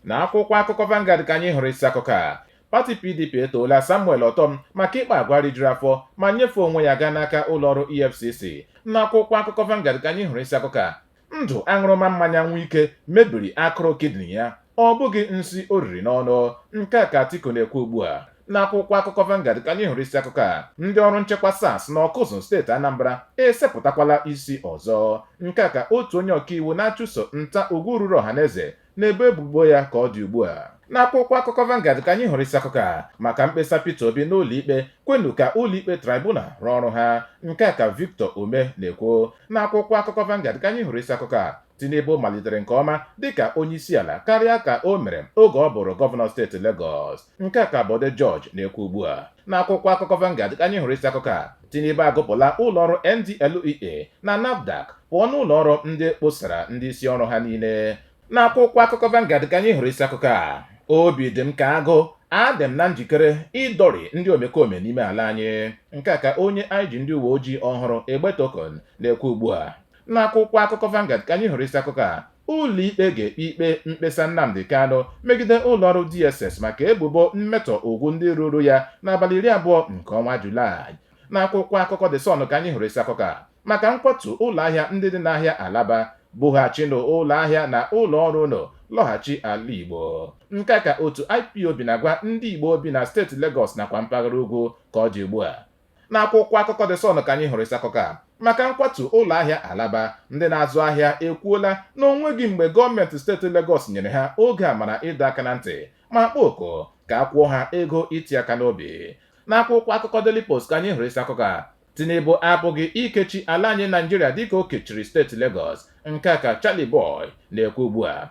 Na akwụkwọ akụkọ Vanguard ka anyị hụrụ isi akụkọ a pati PDP etoola Samuel Ortom maka ịkpa agwa rijuru afọ ma nyefee onwe ya gaa n'aka ụlọọrụ EFCC n'akwụkwọ akụkọ Vanguard ka anyị hụrụ isi akụkọ a ndụ aṅụrụma mmanya Wike mebiri akụrụ kidney ya ọ bụghị nsi o riri n'ọnụ nke a ka Atiku na-ekwu ugbu a n'akwụkwọ akụkọ Vanguard ka anyị hụrụ isi akụkọ a ndị ọrụ nchekwa SARS na Ọkụzụ steeti Anambra esepụtakwala isi ọzọ nke a ka otu onye ọkaiwu na-achụso nta ugwu ruru ọhaneze na-ebo ebubo ya ka ọ dị ugbu a n'akwụkwọ akụkọ Vanguard ka anyị hụrụ isi akụkọ a maka mkpesa Peter Obi n'ụlọikpe kwenu ka ụlọikpe tribunal rụọ ọrụ ha nke a ka Victor Umeh na-ekwu n'akwụkwọ akụkọ Vanguard ka anyị hụrụ isi akụkọ a Tinubu malitere nke ọma dịka onyeisiala karịa ka o mere oge ọ bụrụ gọvanọ steeti Lagos nke a ka Bode George na-ekwu ugbu a N'akwụkwọ akụkọ Vanguard ka anyị hụrụ isi akụkọ a Tinubu agụpụla ụlọọrụ NDLEA na NAFDAC pụọ n'ụlọọrụ ndị kposara ndị isi ọrụ ha niile n'akwụkwọ akụkọ Vanguard ka anyị hụrụ isi akụkọ a obi dị m ka agụ adị m na njikere ịdọrị ndị omekome n'ime ala anyị nke a ka onye IG ndị uwe ojii ọhụrụ Egbetokun na-ekwu ugbu a n'akwụkwọ akụkọ Vanguard ka anyị hụrụ isi akụkọ a Ụlọikpe ga-ekpe ikpe mkpesa Nnamdi Kanu megide ụlọọrụ DSS maka ebubo mmetọ ugwu ndị ruuru ya n'abalị iri abụọ nke ọnwa Julaị. N'akwụkwọ akụkọ The Sun ka anyị hụrụ isi akụkọ a maka nkwatu ụlọahịa ndị dị n'ahịa Alaba, bughachinụ ụlọahịa na ụlọọrụ unu lọghachi ala Igbo. Nke a ka otu IPOB na-agwa ndị Igbo bi na steeti Legọs nakwa mpaghara ugwu ka ọ dị ugbu a. N'akwụkwọ akụkọ The Sun ka anyị hụrụ isi akụkọ a maka nkwatu ụlọ ahịa Alaba. Ndị na-azụ ahịa ekwuola na o nweghị mgbe gọọmenti steeti Legọs nyere ha oge amara ịdọ aka na ntị ma kpọọ oku ka a kwụọ ha ego iti aka n'obi. N'akwụkwọ akụkọ Daily Post ka anyị hụrụ isi akụkọ a Tinubu apụghị ikechi ala anyị Naịjirịa dịka o kechiri steeti Legọs, nke a ka Charlie Boy na-ekwu ugbu a.